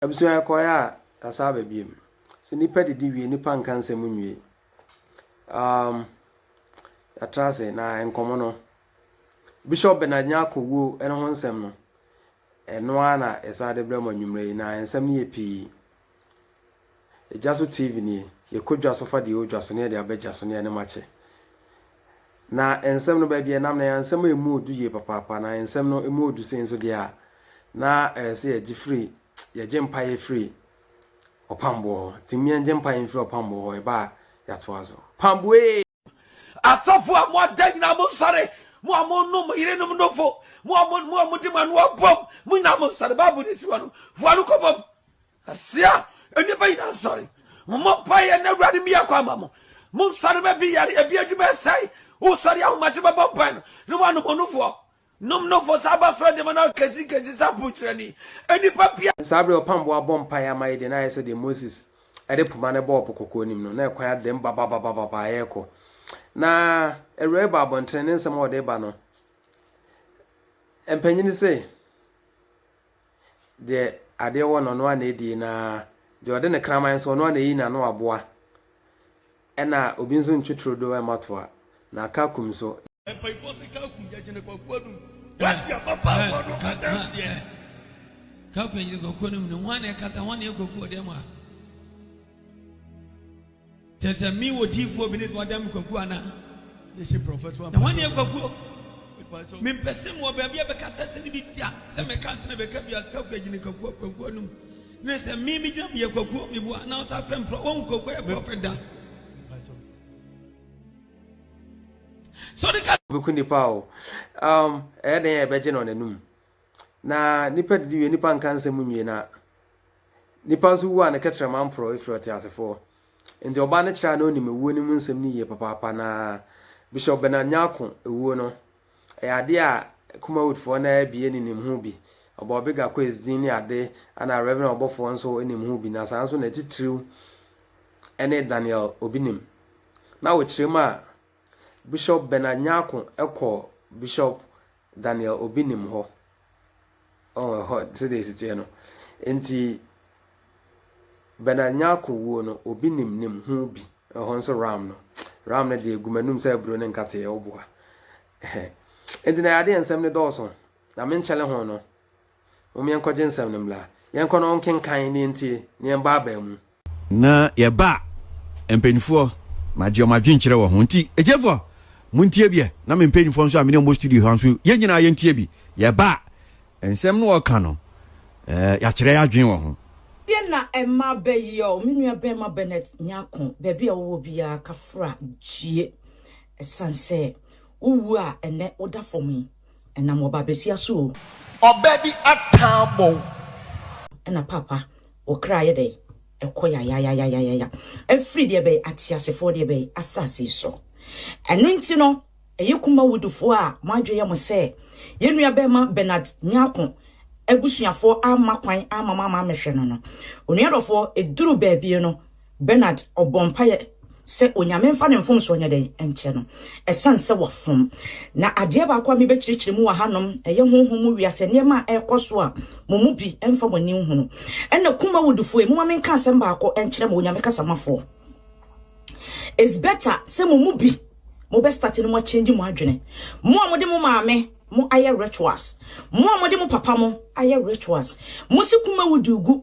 abusua kɔɛ a kasa aba biem sɛ nipa didi wie nipa nka nsɛm nwie um, yɛtra ase na nkɔmmɔ no bishop benadnya kɔwuo ɛno ho nsɛm no Ɛno ara na yɛsan de brɛ mo anwumerɛ yi, na nsɛm no yɛ pii. Gya so TV nie, yɛkɔ dwa so fa deɛ ɛwɔ dwa so ne yɛde aba gya so ne yɛne mo akyɛ. Na nsɛm no baabi a ɛnam no ɛyɛ nsɛm a ɛmu ɔdu yie papaapa, na nsɛm no ɛmu ɔdu sei nso deɛ a, na ɛyɛ sɛ yɛgye firi, yɛgye mpaeɛ firi ɔpamboɔ hɔ. Nti mmea ngye mpaeɛ mfiri ɔpamboɔ hɔ, ɛba a yɛatoa so. Pamboee! Asɔfo a mo ada nyinaa monsɔre, mo a monom mo yerenom nofo, mo a mo a mode mo ano abom, mo nyinaa monsɔre. Bible no si hɔ no, fo ano kɔbom. Ahyia, nnipa nyinaa nsɔre. Mommɔ mpaeɛ na Awurade mmia kwan ma mo. Monsɔre ma bi yare, ebi adwuma ɛsɛe. Wosɔre ahomakye bɛbɔ mpae no, na woanom onufoɔ. Nom no fɔ saa ba frɛ dema na kesi kesi sa po kyerɛ ni enipa bia. Saa bere a ɔpam bo abɔ mpae ama yɛn deɛ, na ayɛ sɛ deɛ Moses de poma no bɔɔ Po Kɔkɔɔ no mu no, na ɛkwan adɛm babababababa ɛrekɔ. Na awuraa yi bɔ abɔntene, ne nsɛm a ɔde reba no, mpanyin no se, Deɛ adeɛ wɔ no, ɔno ara na ɛdie, na deɛ ɔde ne kraman nso, ɔno ara na ɛyi n'ano aboa. Ɛna obi nso ntwe turodoo mma toa, na kakum nso. Mpayifoɔ se kakum yɛ gyene kwaku anum. Wate ababaawa no adanseɛ? Kakum yɛ gyene kwaku anum no, hwan na ɛkasa, hwan na ɛyɛ kwaku wɔ dɛm ha? Kyerɛ sɛ me wɔ diifoɔ bi ne sɛ ɔda me kwakuo anaa? Na hwan yɛ kwakuo? Mempɛ sɛ mewɔ baabi a bɛka sɛ sene bi da sɛ meka sene bɛka bi asika kɔ agyina kwakuo kwakuo anom ne sɛ me megyina meyɛ kwakuo meboa na ɔsa frɛ mprɔ wɔhu kwakuo yɛ prɔfɛt da so de ka bɛku nipa o um, ɛyɛ dɛn a ɛbɛgye no n'anum na nipa didi wie nipa nka nsɛm nwie na Nnipa nso wu a ne kɛtrɛma mporɔw firi ɔteasefo hɔ. Enti ɔbaa no kyerɛ a na onim awuo no mu nsɛm no yie papaapa no ara. Bishop Bernard Nyarko wuo no, ɛyɛ adeɛ a Kumawoodfoɔ no ara bi ne nim ho bi. Ɔbɔɔ Big Akoe's din ne ade ɛna Rev. Ɔbɔfoɔ nso nim ho bi na saa nso na atitiriw ne Daniel Obinim. Na wokyerɛ mu a, Bishop Bernard Nyarko kɔɔ Bishop than nea obi nim hɔ. Ɔwɔ hɔ sɛdeɛ ɛsi teɛ no. Nti Bernard Nyarko wuo no, obi nim nim ho bi. Ɛhɔ nso Ram no. Ram no deɛ egu m'anum sɛ aburo ne nkateɛ ɔboa. Nti na adeɛ nsɛm no dɔɔso. Na menkyɛle ho no. Mom yɛnkɔgye nsɛm no mmra. Yɛnkɔ na ɔnkenkan na yɛntie na yɛmbɔ abaamu. Na yɛba a, mpanyinfoɔ magye wɔn adwenkyerɛ wɔ ho. Nti atiefoɔ montie bi ɛ, na me mpanyinfoɔ nso a me ne wɔn wɔ studio ha nso, yɛn nyinaa yɛntie bi. Yɛba a, nsɛm no a ɔka no, yɛakyerɛ yɛn adwene wɔ ho. Deɛ na ɛma bɛ yi ɔ me nua bɛɛma Bernard Nyarko baabi a wowɔ biara kafra gyie ɛsan sɛ wo wu a ɛnɛ woda fam yi. Ɛnam wɔ babesia so o. Ɔbɛ bi ataa bɔ wo. Ɛna papa wo kra ayɛ dɛn ɛkɔ yayayayayaya ɛfiri deɛ bɛn ateasefoɔ deɛ bɛn asase so ɛno nti no ɛyɛ Kumawood foɔ a mo adwene yɛ mo sɛ yɛn nua bɛɛma Bernard Nyarko abusuafoɔ amma kwan amma mo amma ammɛhwɛ no no onua dɔfoɔ ɛduru baabie no Bernard ɔbɔ mpaeɛ sɛ Onyame mfa ne mfomsoɔ nyɛ dɛn? nkyɛ no ɛsiane sɛ wafom. Na adeɛ baako a mebɛkyerɛkyerɛ mu wɔ hanom, ɛyɛ honhom mu wiase nneɛma a ɛrekɔ so a mo mu bi mfa mo ani nhunu. Ɛnna kum awudifoɔ yi, momma menka asɛm baako nkyerɛ mo Onyame kasamafoɔ, It's better sɛ mo mu bi mobɛstarte no moakyɛngyi mo adwene. Mo a mode mo maame mo ayɛ rituals, mo a mode mo papa mo ayɛ rituals, mosi kum awudi gu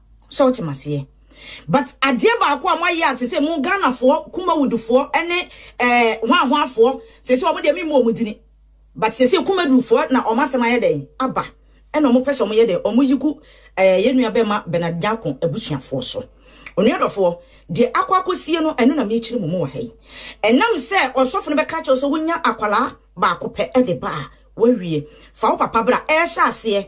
sɛ wote maseɛ but adeɛ baako a moayɛ a sese mo ghanafoɔ kumawudufoɔ ne eh, hwanhwanfoɔ sese wɔn deɛ memu wɔn dini but sese kumadufoɔ na wɔn asɛm ayɛ dɛn aba ɛna wɔn pɛ sɛ wɔn yɛ dɛn wɔn yi gu eh, yɛn nua bɛma bernard nyako abusuafoɔ so onua dɔfoɔ deɛ akɔ akɔsie no ɛno na mekyiri mu mu wɔ ha yi ɛnam sɛ ɔsɔfo no bɛka kyɛw sɛ wonya akwalaa baako pɛ ɛde ba a wawie fa wo papa bra ɛhyɛ aseɛ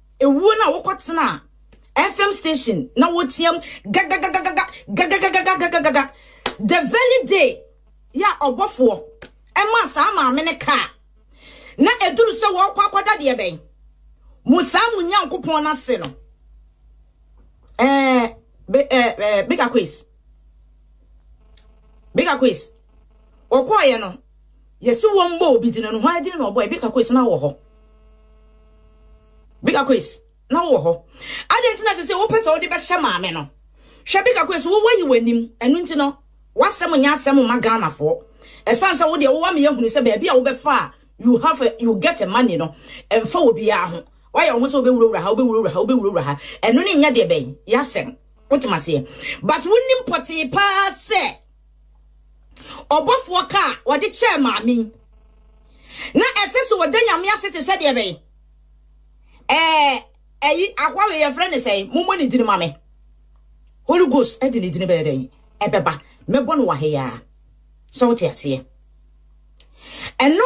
Ewuo no a wokɔtena FM station na woteam gagagagaga gagagagagagagaga the very day yɛ a ɔbɔfoɔ ɛmaa saa maame no kaa na ɛduru sɛ wɔrekɔ akɔda deɛ bɛn mo saa mo nyankopɔn no ase no ɛɛ big aquis big aquis Ɔkɔeɛ no, yɛsi wɔn bɔɔ obi gyina no hɔ agyina na ɔbɔe. Bika Kois, na wɔ hɔ. Bika Kois, na wowɔ hɔ. Adɛn nti na sɛ sɛ wopɛ sɛ wode bɛhyɛ maame no? Hwɛ Bika Kois, wo wayi w'anim. Ɛno nti no, w'asɛm nyɛ asɛm mma Ghanafoɔ. Ɛsiane sɛ wo deɛ wowɔ ameyɛ hunu sɛ baabi a wobɛfa a you have a, you get a money no, ɛmfa obiara ho. Woayɛ wo ho sɛ wobɛwurawura ha, wobɛwurawura ha, wobɛwurawura ha. Ɛno ne nyɛ deɛ bɛn? Yɛ asɛm. Wotem aseɛ? But wonim pɔtee paa sɛ. ɔbɔfoɔ ka a wɔde kyɛɛ maame yi, na ɛsɛ sɛ wɔda nyame ase te sɛ deɛ bɛn ɛɛ ɛyi ahoawe yɛfrɛ ne sɛn mommɔ ne dini ma me holy ghost ɛde ne dini bɛyɛ dɛn ɛbɛba mɛbɔ no wɔ ha yi ara sɛ wote aseɛ ɛno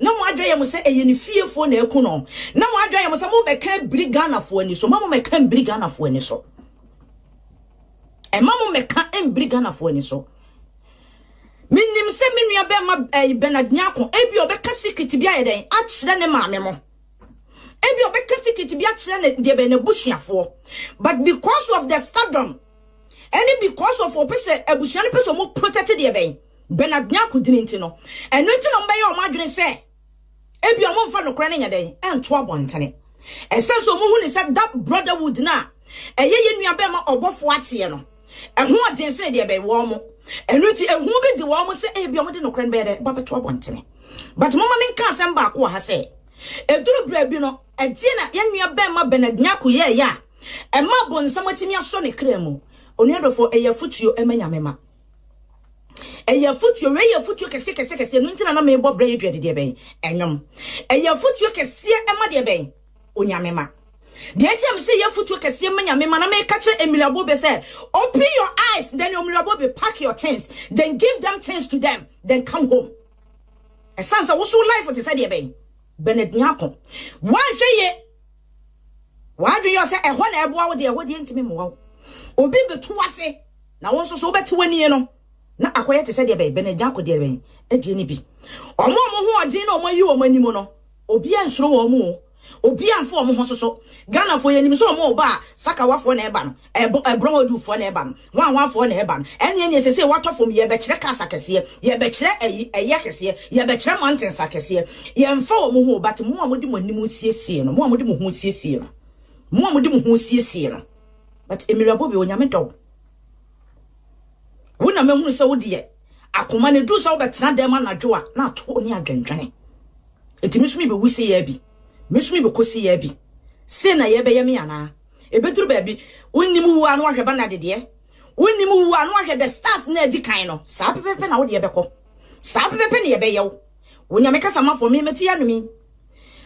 Na mo adwene yɛ mo sɛ ɛyɛ ne fiefoɔ na aku no. Na mo adwene yɛ mo sɛ mo bɛka abiri Ghanafoɔ ani so. Mma mo mmɛka mbiri Ghanafoɔ ani so. Mma mo mmɛka mbiri Ghanafoɔ ani so. Menim sɛ me nua bɛrima ɛyi Bernard Nyako ebi ɔbɛka secret bi ayɛ dɛn akyerɛ ne maame mo. Ebi ɔbɛka secret bi akyerɛ ne deɛ bɛn n'abusuafoɔ. But because of the stardom ɛne because of ɔpɛ sɛ abusua no pɛ sɛ ɔmo protect deɛ bɛn. Bernard ne akodini nti no, ɛno nti na wɔbɛyɛ wɔn adwene sɛ ebia wɔmfa nokorɛ no nyɛ dɛn nto abɔntene. Ɛsɛ sɛ wɔhu no sɛ da brotherhood no a ɛyɛ yɛn nuabarima ɔbɔfoɔ ateɛ no, ɛho yɛ den sene deɛ ɛbɛn wɔn. Ɛno nti ehu bi de wɔn sɛ ebia wɔde nokorɛ no bɛyɛ dɛn bɛto abɔntene. But momma menka asɛm baako wɔ ha sɛ, ɛduru berɛ bi no, ɛdeɛn na yɛn nuabarima Bernard Nyarko yɛeɛ a ɛma bonsam atumi asɔ ne kra mu? Onua dɔfoɔ, ɛyɛ afotuo ma Nyame mma. ɛyɛ afotuo wei yɛ afotuo kɛseɛ kɛseɛ kɛseɛ ɛno nti na na mebɔ berɛ yɛdua de deɛ bɛn ɛnwom ɛyɛ afotuo kɛseɛ ɛma deɛ bɛn onyame ma deɛ nti a mesɛ yɛ afotuo kɛseɛ ma nyame ma na meka kyerɛ mmiraboɔ bɛ sɛ open your eyes then mmiraboɔ bɛ pack your things then give them things to them then come home ɛsiane sɛ woso life te sɛ deɛ bɛn bɛnadiako woanhwɛ yɛ W'adwene yɛ sɛ ɛhɔ na ɛboa wo deɛ, ɛhɔ deɛ ɛntumi mmoa wo. Obi betu w'ase, na wo nso so wobɛte w'anie no, na akɔyɛ te sɛ deɛ bɛn? Bernard Nyarko deɛ bɛn? Ɛdeɛ no bi. Wɔn a wɔn hoɔden na wɔayi wɔn anim no, obiara nsuro wɔn o, obiara mfa wɔn ho nsoso. Ghanafoɔ, yɛnim sɛ wɔn reba a, sakawafoɔ na ɛreba no. Ɛbɔ, ɛborɔn a ɔde ufoɔ na ɛba no, hwan, hwan foɔ na ɛba no? Ɛnneɛ neɛ seesei woatɔ fam yi, yɛbɛkyerɛ cars akɛseɛ, yɛbɛkyerɛ ayi, ayi akɛseɛ, yɛbɛkyerɛ mountains akɛseɛ. Yɛmfa wɔn ho o, but mo a mode mo anim resiesie no, mo a mode mo ho resiesie no, mo a mode mo ho resiesie no, but Emilia Bobi, Onyame dɔ wo. Wo na mahunu sɛ wo deɛ, akoma no ɛduru sɛ wobɛtena dɛm anadwo a, na ato wo ne adwendwene. Nti me nso mebɛwu seyaa bi, me nso mebɛkɔ seyaa bi, sei na yɛbɛyɛ me anaa? Ebeduru baabi, wonnim wu a na wɔahwɛ Bernard deɛ. Wonnim wu a na wɔahwɛ the stars na adi kan no. Saa pɛpɛpɛ na wo deɛ bɛkɔ. Saa pɛpɛpɛ na yɛbɛyɛ wo. Wo Nyame kasamafoɔ, me mete anom yi.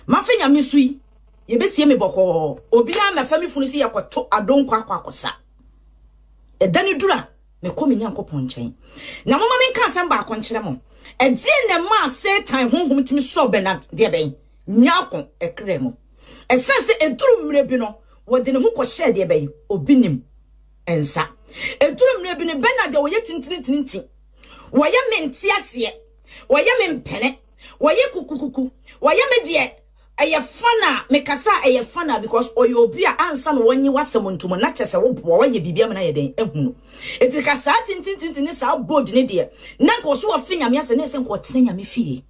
Mafe Nyame so yi. Yɛbɛsie me bɔkɔɔ. Obiara mmɛfa me funu sɛ yɛkɔto adonkɔ akɔ akɔsa. Ɛda no duru a, mekɔ me Nyankopɔn nkyɛn. Na momma menka asɛm baako nkyerɛ mo. Ɛdeɛn na ɛmaa Satan honhom tumi sɔɔ Bernard deɛ bɛn? Nyaako ɛkra mu. Ɛsɛ sɛ ɛduru mmerɛ bi no, wɔde ne ho kɔhyɛɛ deɛ bɛn? Obi nim nsa. Ɛduru mmerɛ bi no, Bernard a ɔyɛ tintintinti, wɔyɛ me nteaseɛ, wɔyɛ me mpene, wɔyɛ kukukuku, wɔyɛ me deɛ ɛyɛ fana, mekasa a ɛyɛ fana because ɔyɛ obi a ansa na wɔnye w'asɛm ntom na kyɛ sɛ woboa, wɔyɛ biribi ama no ayɛ dɛn? Ahu no. Ɛti ka saa tintintinti ne saa bold ne deɛ, na nka ɔso ɔfe nyame asɛ, na ɛsɛ nka ɔtena nyame fie.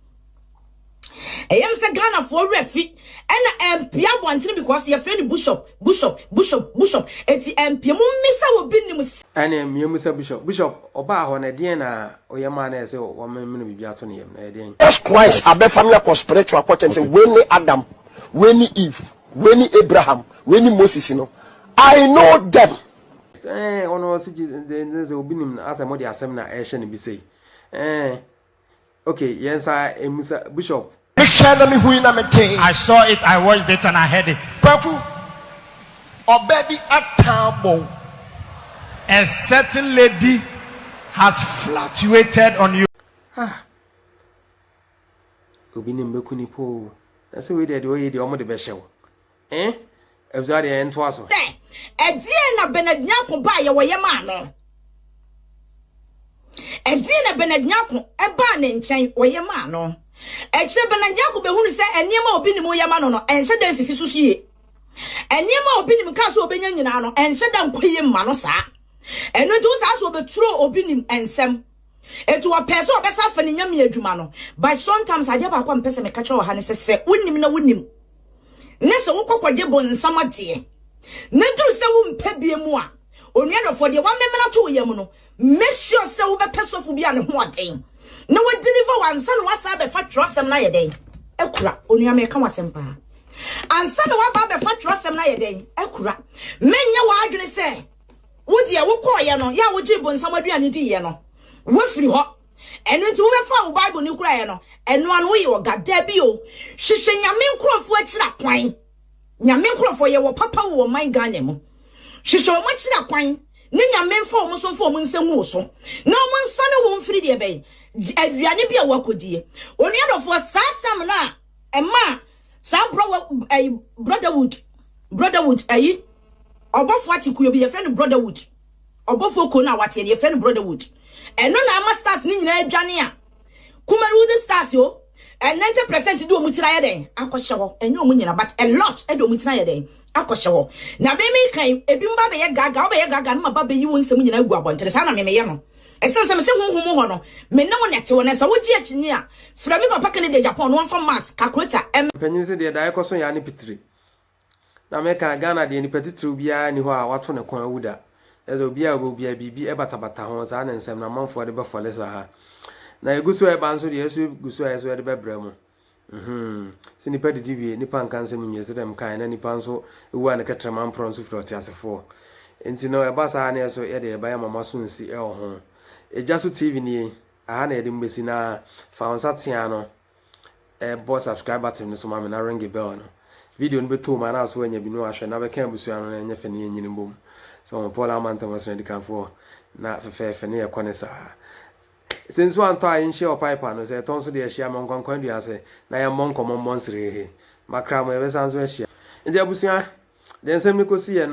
Ɛyɛ me sɛ Ghanafoɔ werɛ fi na ɛmpia abɔntene because yɛfrɛ no Bushop, Bushop, Bushop, Bushop, enti ɛmpia. Mommisa wɔ bi nim sɛ. Ɛneɛ meamusa Bushop, Bushop ɔbaa hɔ no ɛdeɛn na ɔyɛ maa no ɛsɛ wɔmemene biribi ato ne yam no, ɛyɛ deɛn? Jesus Christ abɛfa me akɔ spiritual kɔkyɛm sɛ wei ne Adam, wei ne Eve, wei ne Abraham, wei ne Moses no, I know them. Ɛɛn ɔno ɔse Jesus, then sɛ obi nim no asɛ mode asɛm na ɛrehyɛ no bi sei? Ɛɛn Okay, yɛn sa emu sa Bishop. Me hwɛɛ na me hui na me tee. I saw it, I watched it and I heard it. Kwaku, ɔbaa bi atan abɔ wo. A certain lady has flatuated on you. Ah! Obi ne mbeku ne po o. Na sɛ wei deɛ deɛ ɔyɛ deɛ ɔmo de bɛhyɛ wo. Eh abusua deɛ ɛntoa so. Dɛ, ɛdeɛn na Bernard Nyarko baa yɛ wɔ yɛ maa no? Ɛdeɛn na Bernard Nyarko baa ne nkyɛn wɔ yɛ maa no? Ɛkyerɛ Bernard Nyarko bɛhunu sɛ nneɛma a obi nim yɛ ma no no ɛnhyɛ da nsisi so yie. Nneɛma a obi nim kaa sɛ obɛnya nyinaa no ɛnhyɛ da nkɔ yie mma no saa. Ɛno nti wo saa sɛ obɛturo obi nim nsɛm. Eti ɔpɛɛ sɛ ɔbɛsa afa ne nyame adwuma no. But sometimes adeɛ baako a mepɛ sɛ meka kyerɛ wɔ ha ne sɛ sɛ wonim na wonim. na sɛ wokɔ kɔgye bonsam adeɛ, na ɛduru sɛ wompɛ bie mu a, onua dɔfoɔ, deɛ woamemena to wo yam no, make sure sɛ wobɛpɛ sɔfo bi a ne ho wɔ den na wadeliver wo ansa na woasan abɛfa twerɛsɛm no ayɛ dɛn? Akura. Onua, meka wo asɛm paa. Ansa na woaba abɛfa twerɛsɛm no ayɛ dɛn? Akura. Menyɛ w'adwene sɛ wo deɛ wokɔɔeɛ no, yɛ a wogyee bonsam aduane diiɛ no, woafiri hɔ. Ɛno nti wobɛfa wo Bible no kura yɛ no, ɛno ano woyɛ ɔga. Dabi o, hwehwɛ Nyame nkurɔfoɔ akyira kwan. Nyame nkurɔfoɔ yɛ wɔ papa wɔ ɔman Ghana mu. Hwehwɛ wɔn akyira kwan, ne Nyame mfa wɔn so mfa wɔn nsa ngu wo so, na wɔn nsa ne wɔn mfiri deɛ bɛn? Aduane bi a wɔakɔdie. Onua dɔfoɔ, saa tam no a ɛma saa brɔwɔ, ɛyi, brotherhood, brotherhood, ɛyi, ɔbɔfoɔ ate kuo bi, yɛfrɛ no brotherhood. Ɔbɔfoɔ kuo no a wɔateɛ no yɛfrɛ no Brotherhood. Ɛno na ama stars no nyinaa adwane a Kumarewode stars o, ɛ 90 percent de wɔn tiri ayɛ dɛn akɔhyɛ hɔ. Ɛnyɛ wɔn nyinaa but a lot de wɔn tiri ayɛ dɛn akɔhyɛ hɔ. Na me meka yi, ebinom ba bɛyɛ gaagaa, wobɛyɛ gaagaa no ma ba bɛyi wo nsɛm nyinaa agu abɔntene. Saa na me meyɛ no. Ɛsiane sɛ mese honhom mu hɔ no, me ne wo na ɛte hɔ. Na sɛ wogye akyinnye a, frɛ me papa Kennedy Agyapong na wɔmfa mass, calculator, mmɛ. Mpanyin se deɛ daa ɛkɔso yɛ ane pitire. Na mɛka, Ghana deɛ nipa titiriw biara nni hɔ a wato ne kɔn awu da. Kyerɛ sɛ obiara a ɔbɛwu biara biribi batabata ho, saa ne nsɛm no amanfoɔ de bɛfɔle saa. Na ɛgu so reba nso deɛ ɛso gu so a ɛso de bɛbrɛ mo. Mhm. Sɛ nipa didi wie, nipa nka nsɛm nwie sɛdeɛ mekaeɛ na nipa nso wu a ne kɛtrɛma mporɔ nso firi ɔteasefoɔ. Enti no ɛba saa a ne ɛso yɛ deɛ yɛba yɛma moaso nsi wɔ ho. Egya so TV nie, aha na yɛde mo bɛsi na fa wo nsa tea no bɔ subscribe button no so ma me na ringe bell no. Video no bɛtɔ mu a na aso anya bi na wahwɛ na bɛka abusua no na ɛnyɛ fɛ ne yɛnyini mbom. So ho Paul ama ntam ɔsena dikanfoɔ na fɛfɛɛfɛ ne yɛkɔ ne saa. Sɛ nsuo antɔ a yɛnhyia wɔ pipe ano, sɛ ɛtɔ nso deɛ yɛhyia ma nkwankwan dua ase na yɛmmɔ nkɔmmɔ mmɔ nsereehe. Makra mo yɛbɛsan nso ahyia. Nti abusua, deɛ nsɛm no kɔsiiɛ no,